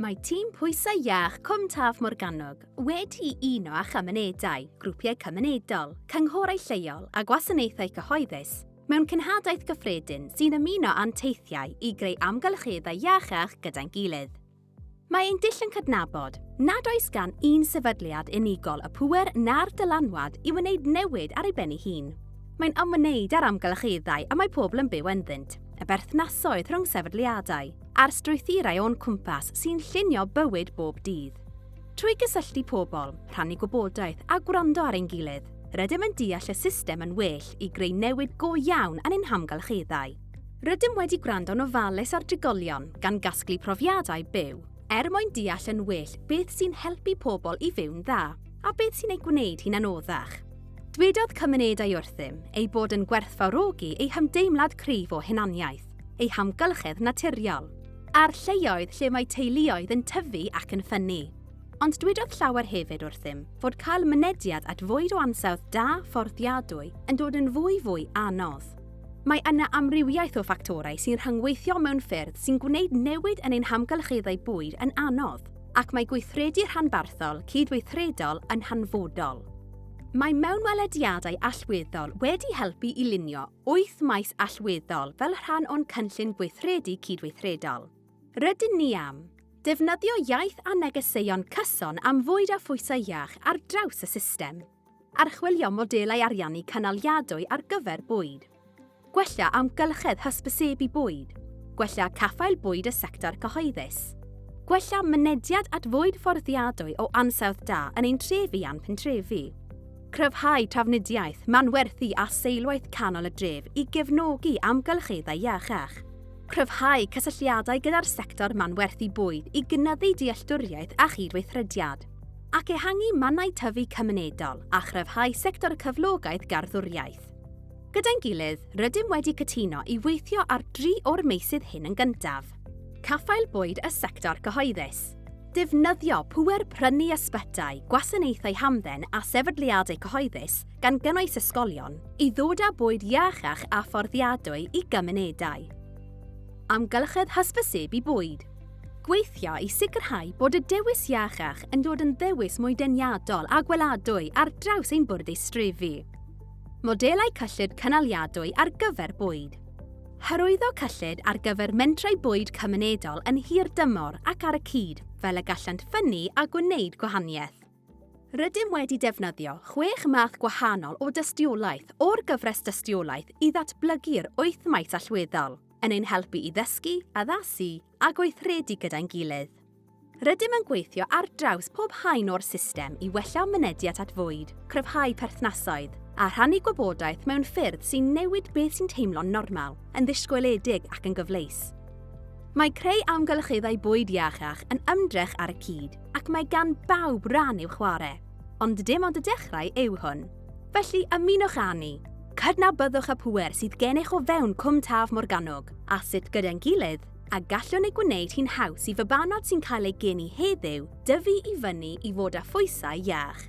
Mae tîm pwysau iach Cwm Taf Morgannwg wedi uno â chymunedau, grwpiau cymunedol, cynghorau lleol a gwasanaethau cyhoeddus mewn cenhadaeth gyffredin sy'n ymuno â'n teithiau i greu amgylcheddau iachach gyda'n gilydd. Mae ein dull yn cydnabod nad oes gan un sefydliad unigol y pŵer na'r dylanwad i wneud newid ar ei ben ei hun. Mae'n ymwneud â'r amgylcheddau y mae pobl yn byw ynddynt, y berthnasoedd rhwng sefydliadau, a'r strwythurau o'n cwmpas sy'n llunio bywyd bob dydd. Trwy gysylltu pobl, rhannu gwybodaeth a gwrando ar ein gilydd, rydym yn deall y system yn well i greu newid go iawn yn ein hamgylcheddau. Rydym wedi gwrando'n ofalus ar drigolion, gan gasglu profiadau byw, er mwyn deall yn well beth sy'n helpu pobl i fyw'n dda, a beth sy'n eu gwneud hi'n anoddach. Dwedodd cymunedau wrthym eu bod yn gwerthfawrogi eu hymdeimlad cryf o hunaniaeth, eu hamgylchedd naturiol, a'r lleoedd lle mae teuluoedd yn tyfu ac yn ffynnu. Ond dwedodd llawer hefyd wrthym fod cael mynediad at fwyd o ansawdd da fforddiadwy yn dod yn fwy fwy anodd. Mae yna amrywiaeth o ffactorau sy'n rhyngweithio mewn ffyrdd sy'n gwneud newid yn ein hamgylcheddau bwyd yn anodd, ac mae gweithredu rhanbarthol cydweithredol yn hanfodol. Mae mewnwelediadau allweddol wedi helpu i lunio wyth maes allweddol fel rhan o'n cynllun gweithredu cydweithredol. Rydyn ni am defnyddio iaith a negeseuon cyson am fwyd a phwysau iach ar draws y system, archwilio modelau ariannu cynaliadwy ar gyfer bwyd, gwella amgylchedd hysbysebu bwyd, gwella caffael bwyd y sector cyhoeddus, gwella mynediad at fwyd fforddiadwy o ansawdd da yn ein trefi a'n pentrefi. Cryfhau trafnidiaeth, manwerthu a seilwaith canol y dref i gefnogi amgylcheddau iachach. Cryfhau cysylltiadau gyda'r sector manwerthu bwyd i gynyddu dealltwriaeth a chydweithrediad. Ac ehangu mannau tyfu cymunedol a chryfhau sector cyflogaeth garddwriaeth. Gyda'n gilydd, rydym wedi cytuno i weithio ar dri o'r meysydd hyn yn gyntaf. Caffael bwyd y sector cyhoeddus. Defnyddio pŵer prynu ysbytai, gwasanaethau hamdden a sefydliadau cyhoeddus, gan gynnwys ysgolion, i ddod â bwyd iachach a fforddiadwy i gymunedau. Amgylchedd hysbysebu bwyd. Gweithio i sicrhau bod y dewis iachach yn dod yn ddewis mwy deniadol a gweladwy ar draws ein bwrdd eistrefi. Modelau cyllid cynaliadwy ar gyfer bwyd. Hyrwyddo cyllid ar gyfer mentrau bwyd cymunedol yn hirdymor ac ar y cyd, fel y gallant ffynnu a gwneud gwahaniaeth. Rydym wedi defnyddio chwech math gwahanol o dystiolaeth o'r gyfres dystiolaeth i ddatblygu'r wyth maes allweddol, yn ein helpu i ddysgu, addasu, a gweithredu gyda'n gilydd. Rydym yn gweithio ar draws pob haen o'r system i wella mynediad at fwyd, cryfhau perthnasoedd, a rhannu gwybodaeth mewn ffyrdd sy'n newid beth sy'n teimlo'n normal, yn ddisgwyliedig ac yn gyfleus. Mae creu amgylcheddau bwyd iachach yn ymdrech ar y cyd, ac mae gan bawb ran i'w chwarae. Ond dim ond y dechrau yw hwn. Felly, ymunwch â ni! Cydnabyddwch y pŵer sydd gennych o fewn Cwm Taf Morgannwg, a sut gyda'n gilydd, a gallwn ei gwneud hi'n haws i fabanod sy'n cael eu geni heddiw dyfu i fyny i fod â phwysau iach.